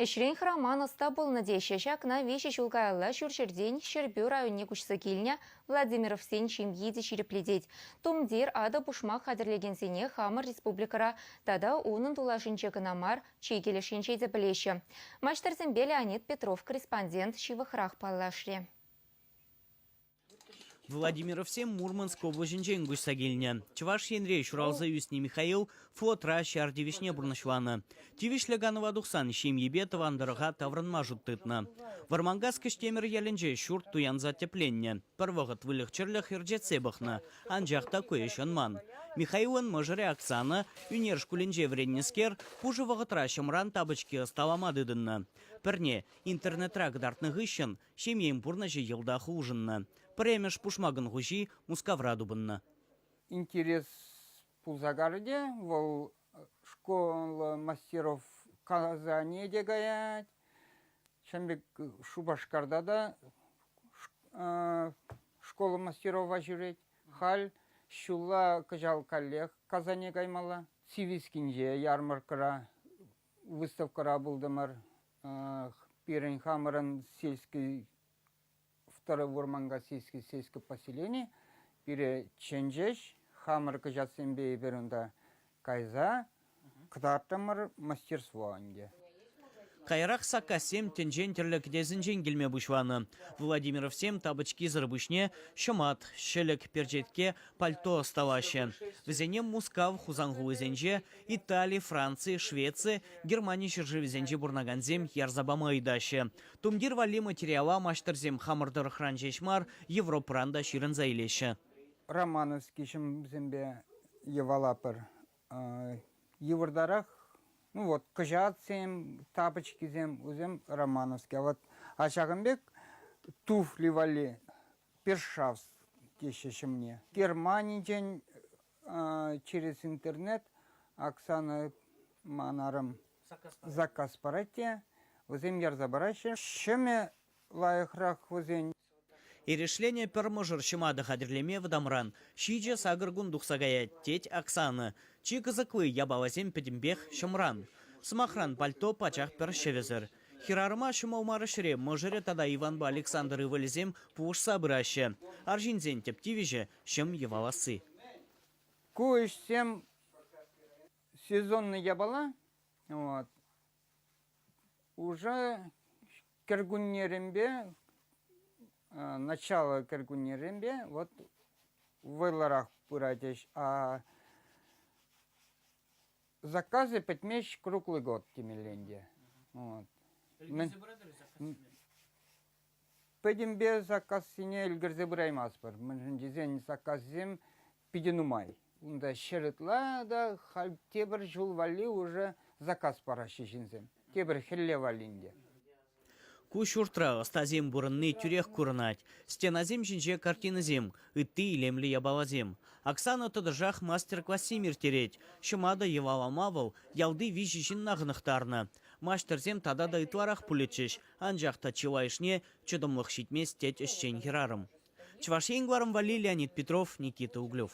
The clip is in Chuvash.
Ӗҫрен хӑраман ӑста пулнӑ теҫҫӗ. Ҫакна виҫӗ ҫул каялла ҫурҫӗртен Ҫӗрпӳ районне куҫса килнӗ Владимировсен ҫемйи те ҫирӗплетет. Тумтир, атӑ-пушмак хатӗрлекенсене хамӑр республикӑра тата унӑн тулашӗнче кӑна мар, чи килӗшӗнче те пӗлеҫҫӗ. Маҫтӑрсемпе Леонид Петров корреспондент ҫывӑхрах паллашрӗ. Владимировсем Мурманск облаҫӗнчен куҫса килнӗ. Чӑваш Енре ҫуралса ӳснӗ Михаил флотра ҫар тивӗҫне пурнӑҫланӑ. Тивӗҫлӗ канӑва тухсан ҫемйипе тӑван тӑрӑха таврӑнма шут тытнӑ. Вӑрманкас Кӗҫтемӗр ялӗнче ҫурт туянса тӗпленнӗ. Пӗр вӑхӑт выльӑх-чӗрлӗх ӗрчетсе пӑхнӑ, анчах та ку ӗҫ ӑнман. Михаилӑн мӑшӑрӗ Оксана, ӳнер шкулӗнче вӗреннӗскер, пушӑ вӑхӑтра ҫӑмран тапочки ӑсталама тытӑннӑ. Пӗрне, интернетра кӑтартнӑ хыҫҫӑн, Ҫемьен пурнӑҫӗ йӑлтах улшӑннӑ. Пӗрремӗш пушмакӑн хуҫи Мускавра тупӑннӑ. Интерес пулса карӗ те, вӑл школлӑ мастеров Казане те каять. Чӑн пек Шупашкарта та школа мастерова ҫӳрет. Халь ҫулла кӑҫал каллех Казане каймалла. Сивискинче, ярмӑрккӑра Выставкӑра пултӑмӑр. Пирӗн хамӑрӑн сельский, второй Вурманка сельский, сельское поселение. Пире чӗнчӗҫ. Хамӑр кӑҫатсемпе эпир унта кайса кӑтартрӑмӑр мастерство ӗнтӗ. Каярах саккассем тӗнчен тӗрлӗ кӗтесӗнчен килме пуҫланӑ. Владимировсем тапочкисӑр пуҫне ҫӑмат, ҫӗлӗк, перчетке, пальто ӑсталаҫҫӗ. Вӗсене Мускав, Хусан хулисенче, Итали, Франци, Швеци, Германи ҫӗршывӗсенче пурӑнакансем ярса пама ыйтаҫҫӗ. Тумтир валли материала маҫтӑрсем хамӑр тӑрӑхран ҫеҫ мар, Европӑран та ҫырӑнса илеҫҫӗ. Романовский ҫӑмсемпе йӑвалатпӑр. Йывӑртарах, ну вот, кӑҫатсем, тапочкисем, вӗсем Романовские. А вот, а ҫакӑн пек туфли валли першавс теҫҫӗ ҫӑмне. Германинчен через интернет Оксана ман арӑм заказ парать те вӗсем ярса параҫҫӗ. Ҫӗмӗ лайӑхрах вӗсен. Эрешленӗ пӗр мӑшӑр ҫӑматӑ хатӗрлеме вӑтамран ҫичӗ сакӑр кун тухса каять, тет Оксана. Чи кӑсӑкли япаласем пӗтӗмпех ҫӑмран. Сӑмахран, пальто пачах пӗр ҫӗвӗсӗр. Хӗрарӑма ҫӑмӑл мар ӗҫре мӑшӑрӗ тата Иванпа Александр ывӑлӗсем пулӑшса пыраҫҫӗ. Арҫынсен тӗп тивӗҫӗ, ҫӑм йӑваласси. Ку ӗҫсем сезонлӑ япала. Вот. Уже кӗркуннеренпе, начало кӗркуннеренпе вот вӑйлӑрах пырать ӗҫ. А заказы пӗтмест круглый год темелле ӗнтӗ. Вот. Ӗлкӗрсе пыратӑр заказсене? Пӗтӗмпе саккассине ӗлкӗрсе пыраймастпӑр, мӗншӗн тесен саккассем питӗ нумай. Унта ҫӗр ытла та халь тепӗр ҫул валли уже заказ параҫҫӗ ҫынсем. Тепӗр хӗлле валлин те. Ку ҫуртра ӑстасем пурӑнни тӳрех курӑнать. Стенасем ҫинче картинӑсем, ытти илемлӗ япаласем. Оксана тӑтӑшах мастер-классем ирттерет. Ҫӑматӑ йӑвалама вӑл ялти виҫӗ ҫынна хӑнӑхтарнӑ. Маҫтӑрсем тата та ытларах пулӗччӗҫ, Анчах та чылайӑшне чӑтӑмлӑх ҫитмест, тет ӗҫчен хӗрарӑм. Чӑваш Ен кӑларӑм валли Леонид Петров, Никита Углев.